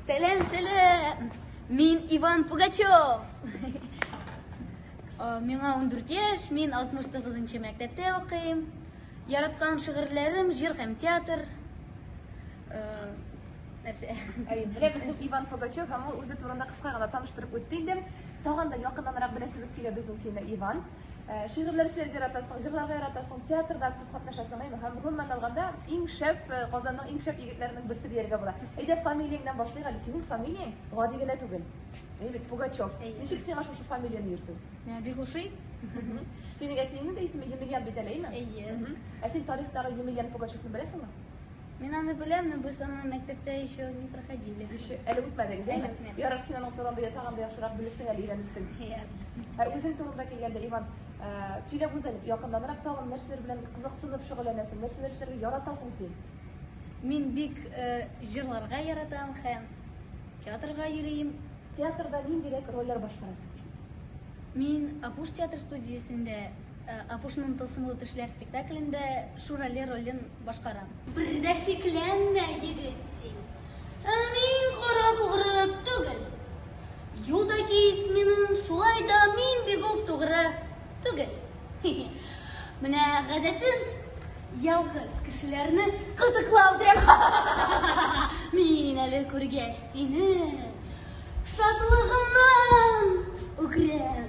Сәләм, сәләм! Мин Иван Пугачев! Э, миңа 14 яшь, мин 69-нчы мәктәптә укыйм. Яраткан шигырьләрем җыр һәм театр. Э, нәрсә? Менә безнең Иван Пугачев һәм ул үзе турында кыска гына таныштырып үтте инде. Тагын да якыннанрак беләсебез килә безнең сине, Иван. Э, шигырьләр эшләргә яратасың, җырларга яратасың, театрда актив катнашасың, әйме, һәм гомумән алганда иң шәп э, Казанның иң шәп егетләренең берсе дияргә була. Әйдә фамилияңнан башлыйк әле. Синең фамилияң гади генә түгел. Әй бит Пугачев. Ничек сиңа шушы фамилияне йөртү? Миңа бик ошый. Синең әтиеңнең дә исеме Емельян бит әле, әйме? Әйе. Ә син тарихтагы Емельян Пугачевны беләсеңме? Мин аны беләм, но без аны мәктәптә еще не проходили. Еще әле үтмәдегез, әле үтмәдек. Ярар, син аның турында я тагын да яхшырак белерсең, әле өйрәнерсең. Ә үзең турында килгәндә, Иван, сөйләп үз әле якыннанрак тагын нәрсәләр белән кызыксынып шөгыльләнәсең, нәрсәләр эшләргә яратасың син? Мин бик җырларга яратам һәм театрга йөрим. Театрда ниндирәк рольләр башкарасың? Мин Апуш театр студиясендә Апушның тылсымлы төшләр спектаклендә Шурали ролен башкарам. Бер дә шикләнмә, егет син. Ә мин кара тугры түгел. Юда кис минем, шулай да мин бигүк тугры түгел. Менә гадәтем ялгыз кешеләрне кытыклау дим. Мин әле күргәч сине шатлыгымнан үкрәм.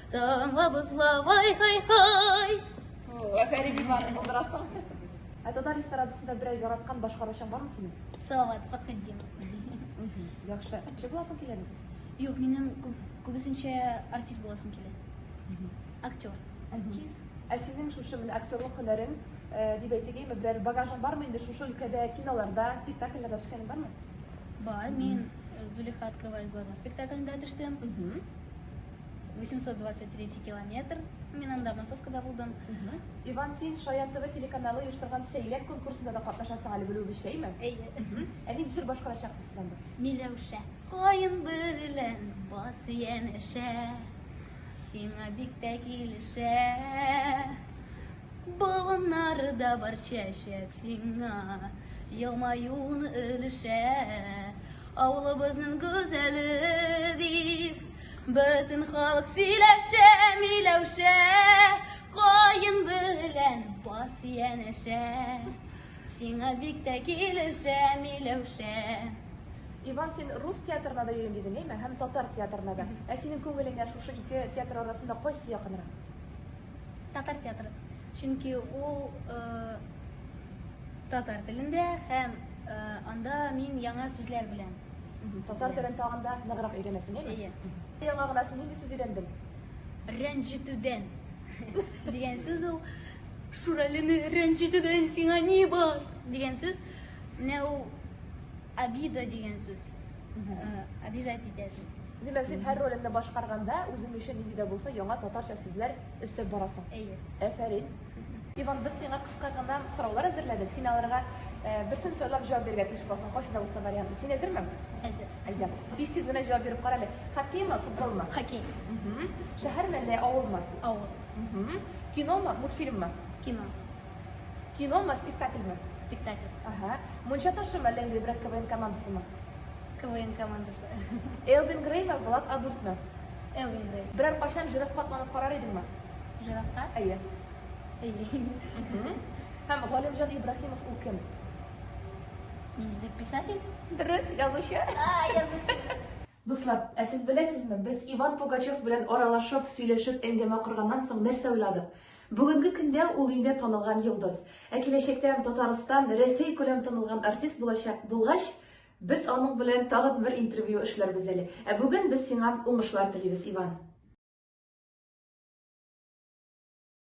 Таңла бозла, вай хай хай. Афәрин Иван, булдырасың. Ә татар эстрадасында берәр яраткан башкаручың бармы синең? Салават Фатхетдинов. Яхшы. Кеше буласың киләме? Юк, минем күп, күбесенчә артист буласым килә. Актер. Артист. Ә синең шушы менә актерлык һөнәрең э, дип әйтегейме, берәр багажың бармы инде шушы өлкәдә киноларда, спектакльләрдә төшкәнең бармы? Бар, мин э, Зулиха открывает глаза спектаклендә төштем. 823 километр. Мин анда массовкада булдым. Иван, син Шаян ТВ телеканалы оештырган сәйләр конкурсында да катнашасың әле белүебезчәме? Әйе. Ә нинди җыр башкарачаксыз сез анда? Миләүшә, каен белән бас янәшә, сиңа бик тә килешә. Болыннарда бар чәчәк сиңа, елмаюын өлешә. Авылыбызның гүзәле дип, Бөтен халык сөйләшә, миләүшә, Каен белән бас янәшә. Сиңа бик тә килешә, миләүшә. Иван, син рус театрына да йөрим дидең, әйме? Һәм татар театрына да. Ә синең күңелеңә шушы ике театр арасында кайсы якынрак? Татар театры. Чөнки ул татар телендә һәм анда мин яңа сүзләр беләм. Татар телен тагын да ныграк өйрәнәсең, әйме? Әйе. Яңа гына син нинди сүз өйрәндең? Рәнҗетүдән дигән сүз ул. Шүрәлене рәнҗетүдән сиңа ни бар? дигән сүз. Менә ул обида дигән сүз. Обижать э, итәсең. Димәк, син һәр ролеңне башкарганда, үзең өчен нинди дә булса яңа татарча сүзләр өстәп барасың. Әйе. Әфәрин. Иван, без сиңа кыска гына сораулар әзерләдек. Син аларга берсен сайлап җавап бирергә тиеш буласың, кайсы да булса вариантын. Син әзерме? Әзер. Әйдә, тиз-тиз генә җавап биреп кара әле. Хоккеймы, футболмы? Хоккей. Шәһәрме әллә авылмы? Авыл. Киномы, мультфильммы? Кино. Киномы, спектакльмы? Спектакль. Ага. Мунча ташымы әллә инде брат КВН командасымы? КВН командасы. Элвин Греймы, Влад Адуртмы? Элвин Грей. Берәр кайчан җыров катланып карар идеңме? Җыракка? Әйе. Әйе. Һәм Галимҗан Ибраһимов ул кем? Милли писатель? Дөрес, язучы. А, язучы. Дуслар, ә сез беләсезме, без Иван Пугачев белән аралашып, сөйләшеп, әңгәмә корганнан соң нәрсә уйладык? Бүгенге көндә ул инде танылган йолдыз. Ә киләчәктә Татарстан, Рәсәй күләм танылган артист булачак булгач, Без аның белән тагын бер интервью эшләрбез әле. Ә бүген без сиңа уңышлар телибез, Иван!